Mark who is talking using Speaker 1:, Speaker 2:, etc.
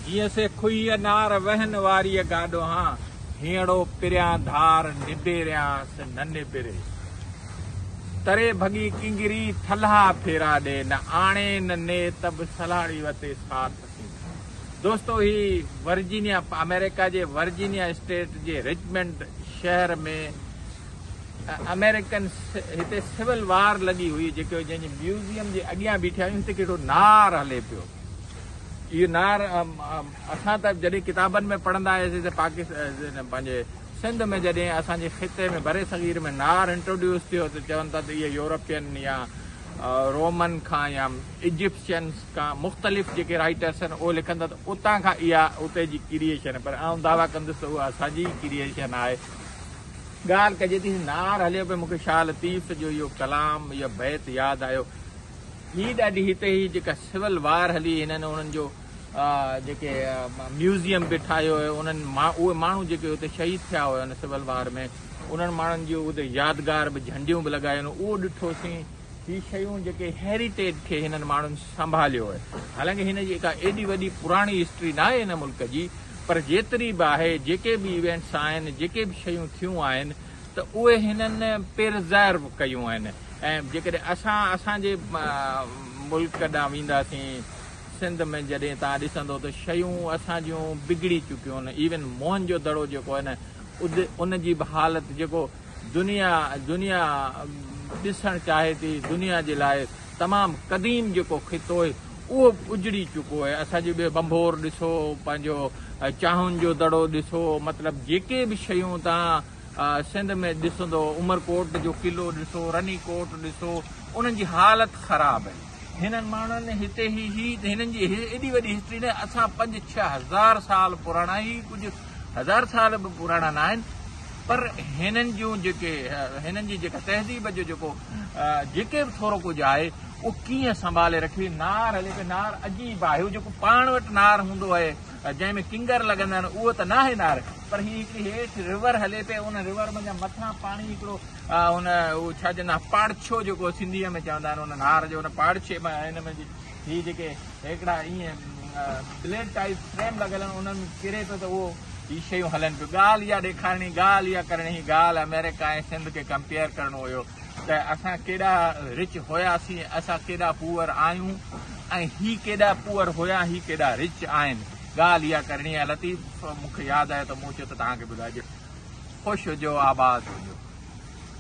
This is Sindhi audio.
Speaker 1: جيئن سي کهي انار وهن واريء گاڏوهان هينئڙو پريان ڌار نبيريانس نه نبري تري ڀڳي ڪنگري ٿلها ڦيرا ڏي نه آڻي نه ني ته به سلهاڙي وتي ساٿ ٿين دوستو هي ورجينيا آمريڪا جي ورجينيا اسٽيٽ جي رچمنڊ شهر ۾ آمريڪن هتي سول وار لڳي هئي جيڪو جنهن جي ميوزيم جي اڳيان بيٺا آهيون هتي ڪهڙو نار هلي پيو اهو نار اسان ته جڏهن ڪتابن ۾ پڙهندا هياسين ته پاڪستان پنهنجي سنڌ ۾ جڏهن اسان جي خطي ۾ برصغير ۾ نار انٽروڊيوس ٿيو ته چون ٿا ته اهي يورپين يا رومن کان يا ايجپشنس کان مختلف جيڪي رائيٽرس آهن اهي لکن ٿا ته اتان کان اها اتي جي ڪريئيشن پر آئون دعويٰ ڪندس ته اها اسان جي ڪريئيشن آهي ڳالهه ڪجي ٿي نار هليو پيو مون کي شاهه لطيف جو اهو ڪلام يا بيت ياد آيو هي ڏاڍي هتي هي جيڪا سول وار هلي هنن انهن جو جيڪي ميوزيم به ٺاهيو هيو انهن اهي ماڻهو جيڪي هتي شهيد ٿيا هيا ان سول وار ۾ انهن ماڻهن جي هتي يادگار به جهنڊيون به لڳايون اهو ڏٺوسين هي شيون جيڪي هيريٽيج کي هنن ماڻهن سنڀاليو آهي حالانڪه هن جي ڪا ايڏي وڏي پراڻي هسٽري نه آهي هن ملڪ جي پر جيتري به آهي جيڪي به ايونٽس آهن جيڪي به شيون ٿيون آهن ته اهي هنن پرزرو ڪيون آهن ۽ جيڪڏهن اسان اسان جي ملڪ ڏانهن وينداسين سنڌ ۾ جڏهن توهان ڏسندو ته شيون اسان جون بگڙي چڪيون آهن ايون موهن جو دڙو جيڪو آهي نه ان جي به حالت جيڪو دنيا دنيا ڏسڻ چاهي ٿي دنيا جي لاء تمام قديم جيڪو خطو آهي اهو به اجڙي چڪو آهي اسان جي ٻي بنڀور ڏسو پنهنجو چاهن جو دڙو ڏسو مطلب جيڪي به شيون تان سنڌ ۾ ڏسندو عمر ڪوٽ جو قلعو ڏسو رني ڪوٽ ڏسو انهن جي حالت خراب آهي هنن ماڻهن هتي هي هي هنن جي ايڏي وڏي هسٽري نه اسان پنج ڇهه هزار سال پراڻا هي ڪجهه هزار سال به پراڻا نه آهن پر هنن جون جيڪي هنن جي جيڪا تهذيب جو جيڪو جيڪي به ٿورو ڪجهه آهي اهو ڪيئن سنڀالي رکي نار هلي نار عجيب آهي جيڪو پاڻ وٽ نار هوندو آهي جنهن ۾ ڪنگر لڳندڙ اهو ته ناهي نار پر هي هڪڙي هيٺ ريور هلي پئي ان ريور منجهان مٿان پاڻي هڪڙو ان اهو ڇا چوندا آهن پاڙڇو جيڪو سنڌي ۾ چوندا آهن ان نار جو ان پاڙڇي مان هن ۾ هي جيڪي هيڪڙا ائين بليڊ ٽائپ فريم لڳل آهن انهن ۾ ڪري پيو ته اهو هي شيون هلن پيو ڳالهه اها ڏيکارڻي ڳالهه اها ڪرڻي هي ڳالهه آمريڪا ۽ سنڌ کي ڪمپيئر ڪرڻو هيو ته اسان ڪيڏا رچ هياسين، اسان ڪيڏا پوئر آهيون ۽ هي ڪيڏا پوئر هيا، هي ڪيڏا رچ آهن. ڳالهه اها ڪرڻي آهي لطيف، مون کي ياد آيو ته مون چيو ته توهان کي ٻڌائجي. خوش هجو، آباد هجو.